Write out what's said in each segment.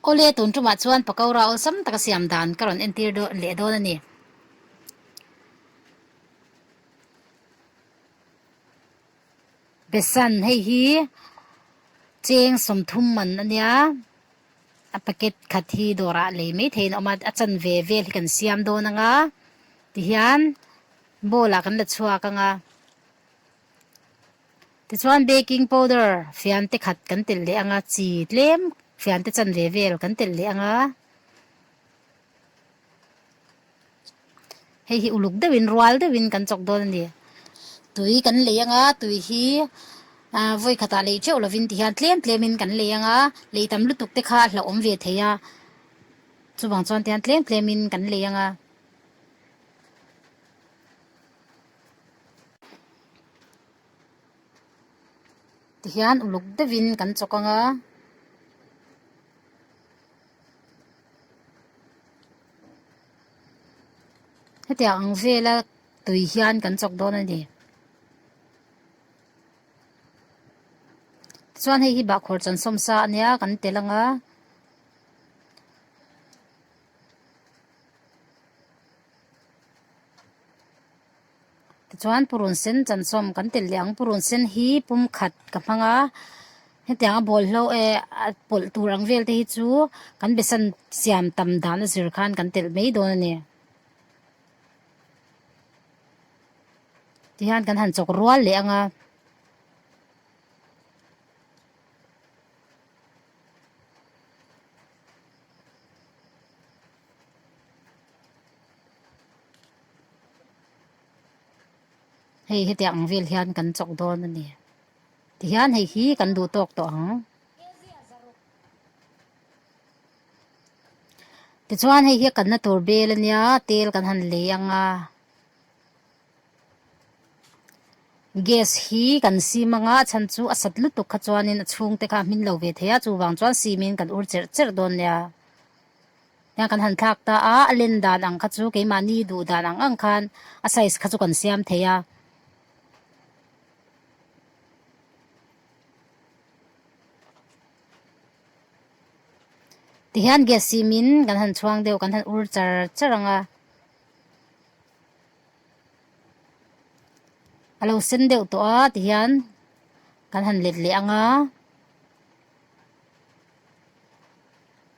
Aw le, tun tumah chuan pakora awlsam taka siam dan ka rawn entir leh dawn a ni. Besan, hei hi cheng sawmthum man a nia, a packet khat hi dawrah lei maitheiin a awm a, a chan ve vel hi kan siam dawn anga tihian ball-ah kan la chhuak anga. Tichuan baking powder fiante khat kan telh leh anga chi tlem fiante chan ve vel kan telh leh anga. Hei hi uluk deuh in rual deuh in kan chawk dawn a ni. Tui kan lei anga tui hi vawi khatah lei teuh lovin ti hian tlem tlem in kan lei anga lei tam lutuk te kha a hlauhawm ve thei a. Chuvang chuan tihian tlem tlem in kan lei anga. Tihian uluk deuhin kan chawk ang a. Hetiang ang vela tui hian kan chawk dawn a ni. Chuan hei hi bahkhawr chansawm sa a nia kan tel ang a. Tichuan purun sen chansawm kan tel leh ang purun sen hi pumkhat ka hmang a hetiang a bawlhlo eh a pawlh tur ang vel te hi chu kan besan siam tam dahna zir khan kan telh mai dawn a ni ti hian kan han chawk rual leh ang a. Hei hetiang ang vel hian kan chawk dawn a ni. Tihian hei hi kan duh tawk tawh ang. Tichuan hei hi kanna tur bel ania, tel kan han lei ang a. Gas hi kan sim anga a chhan chu a sat lutuk kha chuanin a chhungte kha a hmin lo ve thei a, chuvang chuan simin kan ur cherh cherh dawn nia. Heng kan han thlak ta a, a len dan ang kha chu keimahni duh dan ang ang khan a size kha chu kan siam thei a. Tihian gas sim in kan han chhuang deuh, kan han ur char char ang a. A lo sen deuh tawh a tihian kan han let leh ang a.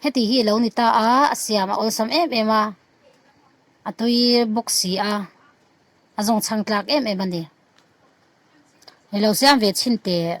Heti hi lo ni ta a, a siam a awlsam em em a, a tui bawk si a, a zawng chhang tlak em em a ni. Hi lo siam ve chhin teh.